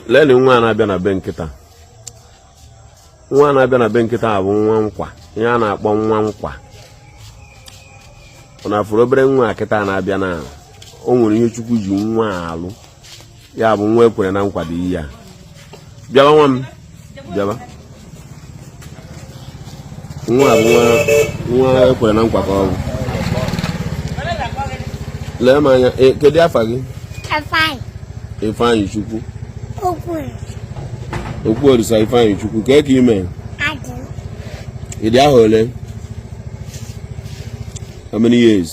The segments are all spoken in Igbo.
leni nwa a na-abịa na be m kịta nwa a na-abịa na be m kịta a bụ nwa nkwa ihe a na-akpọ nwa nkwa ọ na-afụrụ obere nwa a kịta na-abịa na o nwere ihe chukwu ji nwa alụ ya bụ nwa ekwere na nkwa dị ihe a bịaba nwa m bịaba nwa bụ nwa nwa ekwere na nkwa ka ọ bụ lee m anya e, kedu afa gị ifeanyị chukwu okwu orisa ifeanyị chukwu kee ka i mee ị dị ahọ ole how many years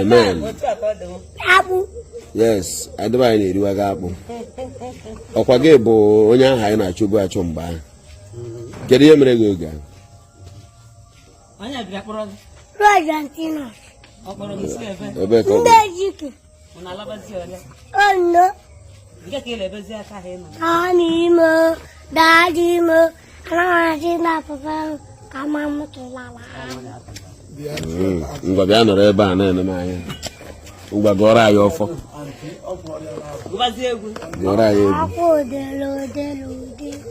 Amen. Yes, adịba anyị na-eriwa gị akpụ. Ọkwa gị bụ onye ahụ anyị na-achọbu achọ mgbe ahụ. Kedu ihe mere gị oge ahụ? Onye bịa kpọrọ gị? Roy Antinos. Ọ kpọrọ gị si ebe? Ebe ka ọ bụ. Ndị Ejike. Ono. Ani mo, dadi mo, anaghị na papa m ka ma m kelala. Ngwa bịa nọrọ ebe a na-ene m anya. Ngwa gọọrọ anyị ọfọ. Gụọrọ anyị egwu. Akwa odere odere odere.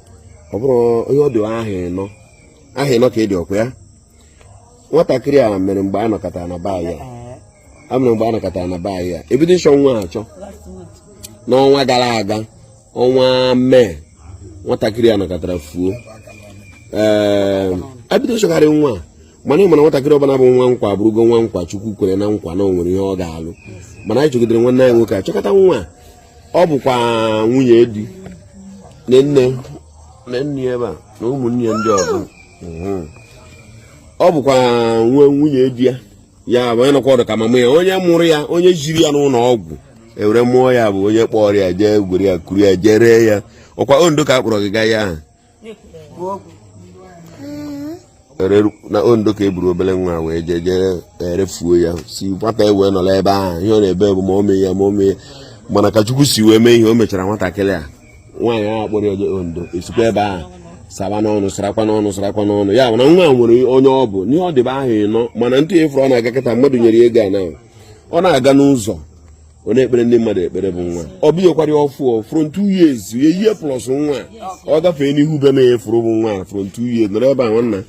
ọ bụrụ onye ọ dị ahọ ịnọ ahọ ịnọ ka ị dị ọkwa ya nwatakịrị a mere mgbe a nọkọtara na be ya ebido ịchọ nwa achọ n'ọnwa gara aga ọnwa May nwatakịrị a nọkatara fuo ee ehm, ebido ịchọgharị nwa a mana ị ma na nwatakịrị ọbụla bụ nwa nkwa bụrụgo nwa nkwa chukwu kwere na nkwa na o nwere ihe ọ ga-alụ mana anyị chọgidere nwanne anyị nwoke achọkata nwa ọ bụkwa nwunye di nne na nne ebe a na ụmụnne ya ndị ọzọ mhm. ọ bụkwa nwe nwunye di ya ya bụ onye nọkwa ọdụ ka mama ya onye mụrụ ya onye jiri ya n'ụlọ ọgwụ ewere mụọ ya bụ onye kpọrọ ya jee were ya kuru ya jee ree ya ọkwa ondo ka a kpọrọ gị gaa ya ahụ na ondo ka eburu obere nwa wee jee jee erefuo ya si nwata ewee nọrọ ebe ahụ ihe ọ na-ebe bụ mummy ya mummy ya mana ka chukwu si wee mee ihe o mechara nwatakịrị a nwaanyị ahụ kpọrọ ya jee ondo esikwa ebe ahụ saba n'ọnụ sarakwa n'ọnụ sarakwa n'ọnụ ya mana nwa nwere onye ọ bụ n'ihe ọ dịbe ahọ ịnọ mana tupu ya efuru ọ na-aga kịta mmadụ nyere ego a na ọ na-aga n'ụzọ ọ na-ekpere ndị mmadụ ekpere bụ nwa ọ bụghịkwara ya ọfụ from two years a year plus nwa ọ gafee n'ihu be na-enye furu bụ nwa from two years nọrọ ebe a nwanna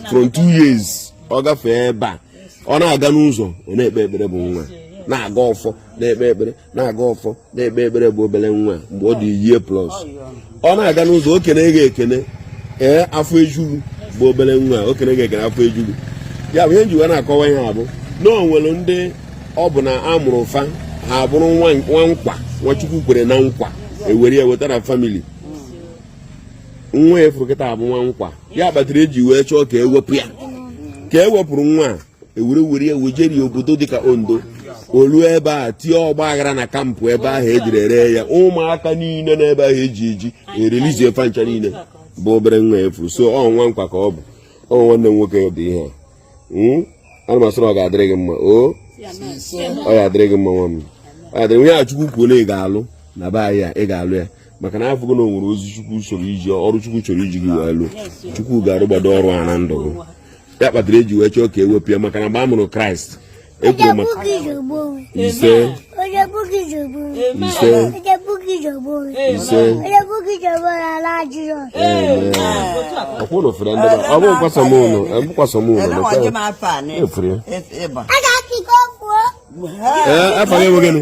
from two years ọ gafee ebe a ọ na-aga n'ụzọ ọ na-ekpe ekpere bụ nwa na-agọ ọfọ na-ekpe ekpere na-agọ ọfọ na-ekpe ekpere bụ obere nwa mgbe ọ dị a year plus ọ na-aga n'ụzọ o kene gị ekene ee afọ eju gụ bụ obere nwa o kene gị ekene afọ eju gụ ya bụ ihe m ji wee na-akọwa ihe a bụ na o nwere ndị ọ bụ na a mụrụ fa ha bụrụ nwa nkwa nwa chukwu kwere na nkwa ewere ya weta na famili nwa a furu kịta a bụ nwa nkwa ya kpatara eji wee chọọ ka ewepụ ya ka ewepụrụ nwa a ewere were ya wejeri obodo dịka ondo olu ebe a tie ọgba aghara na kampụ ebe ahụ ejiri ere ya ụmụaka niile n'ebe ahụ eji eji erelizie fancha niile bụ obere nwa a furu so ọ nwa nkwa ka ọ bụ ọ nwanne m nwoke dị ihe hmm? ana m asịrị ọ ga-adịrị gị mma o ọ ya adịrị gị mma nwa m onye a chukwu kwuo na ị ga-alụ na be anyị a ị ga-alụ ya maka na afụgo na o nwere ozi chukwu chọrọ iji ọrụ chukwu chọrọ iji gị wee lụ chukwu ga-arụgbado ọrụ a na ndụ gị ya kpatara eji wee chọọ ka ewepụ ya maka na mgbe a mụrụ kraịst ekwuru maka ise ọkwụrụ fere ndị ọ bụ kwasamụlọ ekwukwasomụlọ efere ya afọ ya enweghị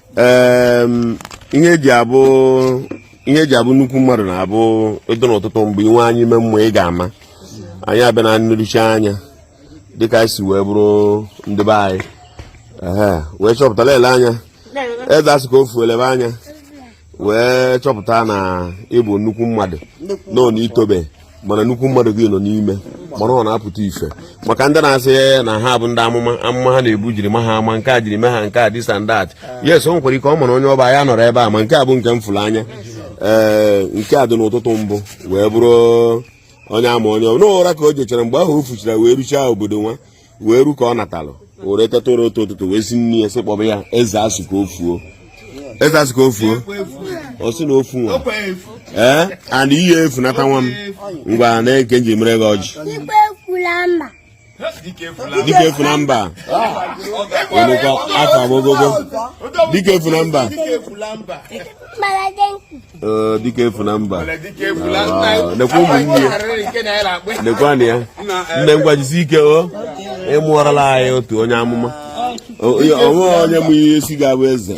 ihe eji abụ nnukwu mmadụ na-ebido n'ụtụtụ mgbe i nwe anya ime mmụọ ị ga-ama onye a bụ na nleruchi anya dịka a si wee bụrụ ndị be anyị wee chọpụtara ele anya eze asị ka o fuo elebe anya wee chọpụta na ị bụ nnukwu mmadụ nọ n'itobe mana nnukwu mmadụ gị nọ n'ime mana ọ na-apụta ife maka ndị na-asị na ha bụ ndị amụma amụma ha na-ebu jiri ma ha ama nke a jiri mee ha nke a this and that yes o nwekwara ike ọ mara onye ọ bụ ya nọrọ ebe a ma nke a bụ nke m fụrụ anya ee nke a dị n'ụtụtụ mbụ wee bụrụ onye a ma onye ọ bụ n'ụra ka o jechara mgbe ahụ o fuchara wee ruchaa obodo nwa wee ru ka ọ natalụ o were teta ụra otu ụtụtụ wee sị nne ya sị kpọba ya eze asụ ka o fuo eze asụ ka o fuo ọ sị na ofu nwa ee and ihe efu nata nwa m ngwa na nke m ji mere gị ọjị dike efu na mba onukọ afọ agogogo dike efu na mba dike efu na mba nekwa ụmụnne ya nekwanụ ya nne ngwa jisi ike o ị mụọrala anyị otu onye amụma o nwe onye mụ ihe si ga-abụ eze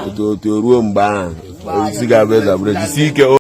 otu otu ruo mgbe ahụ si ga-abụ eze abụrụ jisi ike